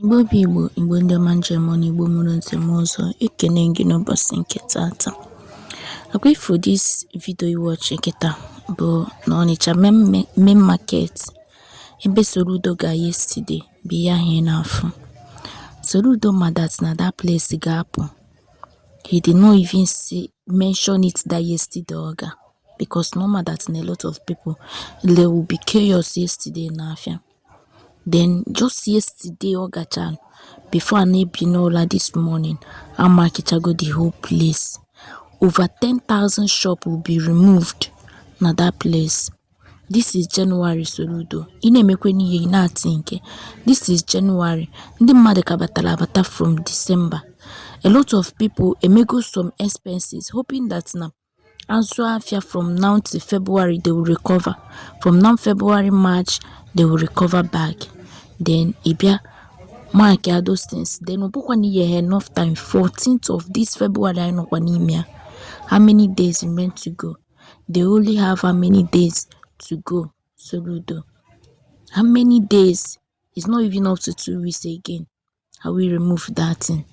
Igbo bụ Igbo, Igbo ndị ọma m ji eme ọnụ, Igbo mụrụ nze mụọ ọzọ, ekene m gị n'ụbọchị nke taata. Ọ kwa ị fụ this video ị watch kịta bụ na Ọnịcha main market ebe Soludo ga yesterday bụ ihe ahụ ị na-afụ. Soludo ma that na that place ga-apụ. He did not even see mention it that yesterday oga because normal that na a lot of people there will be chaos yesterday na afia then just yesterday oga chan before ana ebi n'ụra this morning amakichago the whole place over 10,000 shop will be removed na that place This is January Soludo, ị na-emekwanụ ihe ị na-athink. This is January, ndị mmadụ ka batara abata from December. A lot of people emego some expenses hoping that na a zụọ afịa from now to February they will recover. From now February, March they will recover back. Then ị bịa mark ya those things. Then ọ bụkwa na i nye enough time 14th of this February anyị nọkwa n'ime ya. How many days remain to go? They only have how many days to go, Soludo. How many days? It's not even up to two weeks again. I will remove that thing.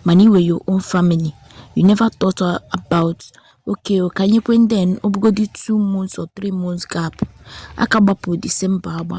Mana iwe your own family. You never thought about okay o ka anyị kwe then ọ bụgodị two months or three months gap aka gbapụ December agba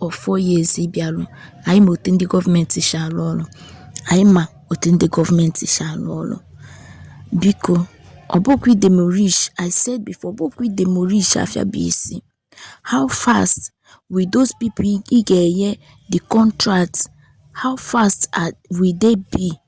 or four years ị bịalụ anyị ma otu ndị gọọmenti si arụ ọrụ anyị ma otu ndị gọọmenti si arụ ọrụ biko ọ bụkwa idemolish I said before ọ bụkwa idemolish afịa bụ isi how fast will those people ị ga-enye the contract how fast are, will they be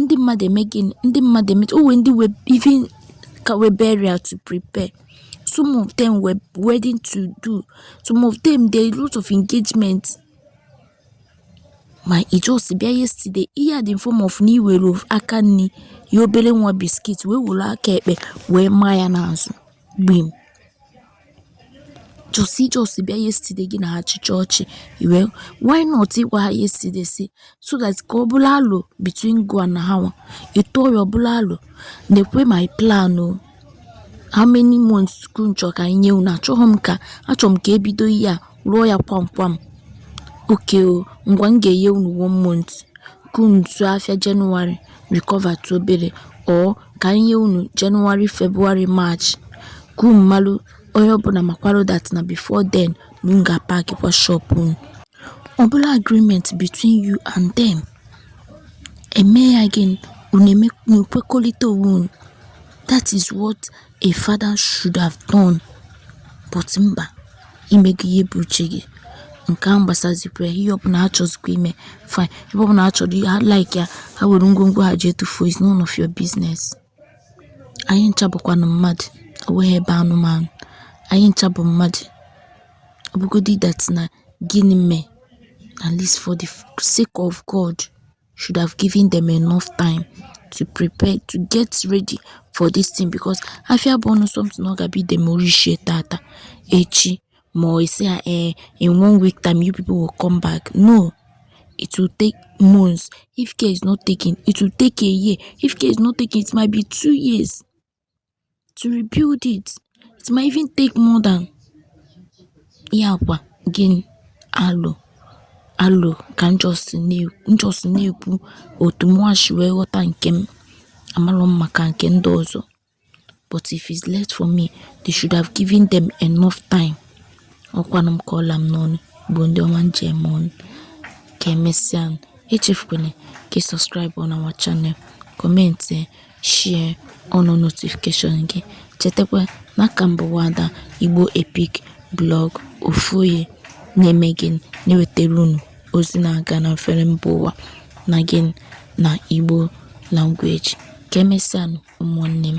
Ndị mmadụ eme gịnị? Ndị mmadụ eme o nwere ndị nwe even ka nwe burial to prepare. Some of them nwe wedding to do. Some of them there a lot of engagement. Ma ị just bịa yesterday, ihe a dị in form of na i were aka nni nye obele nwa biscuit wee were aka ekpe wee maa ya n'azụ gbim. just i just bịa yesterday gị na ha chịchaa ọchị well why not ị gwa ha yesterday si so that ka ọ bụlụ alo between gị na ha nwa ị tụọ ya ọ bụlụ alo nekwa my plan o how many months ka unu chọ ka anyị nye unu achọghị m ka achọrọ m ka e bido ihe a rụọ ya kwam kwam. Ok o, ngwa m ga-enye unu one month ka unu zụọ afịa January recover tụ obere or ka anyị nye unu January, February, March ka unu malụ onye ọbụla makwara that na before then na unu ga-apack kwa shop unu. Ọ bụrụ agreement between you and them, eme ya gịnị? Unu eme- unu ekwekọrịta onwe unu. That is what a father should have done but mba i mego ihe bụ uche gị nke ahụ gbasazikwa ya ihe ọbụla ha chọzikwa ime fine ebe ọbụla ha chọrọ ha like ya ha were ngwongwo ha je tufuo is none of your business anyị ncha bụkwanụ mmadụ onweghị ebe anụmanụ anyị ncha bụ mmadụ ọ bụgodị that na gịnị mee at least for the sake of God should have given them enough time to prepare to get ready for this thing because afia bụ ọnụ something ọ ga-abịa idemorishie tata echi ma ọ esi ha ee eh, in one week time you people will come back no it will take months if care is not taken it will take a year if care is not taken it might be two years to rebuild it it might even take more than ihe a kwa again alo alo ka m just na-ekwu otu mụwa si wee ghọta nke m amarọ m maka nke ndị ọzọ but if it's left for me they should have given them enough time ọkwanụ m ka ọ la m n'ọnụ bụ ndị ọma m ji eme ọnụ ka emesịa echefukwana ka ị subscribe na our channel comment Share on notification gị, chetakwa na a ka m bụ Nwaada Igbo Epic Blog ofu onye na-eme gịnị na-ewetara unu ozi na-aga na mfere mba ụwa na gị na Igbo language. Ka emesịanụ ụmụnne m.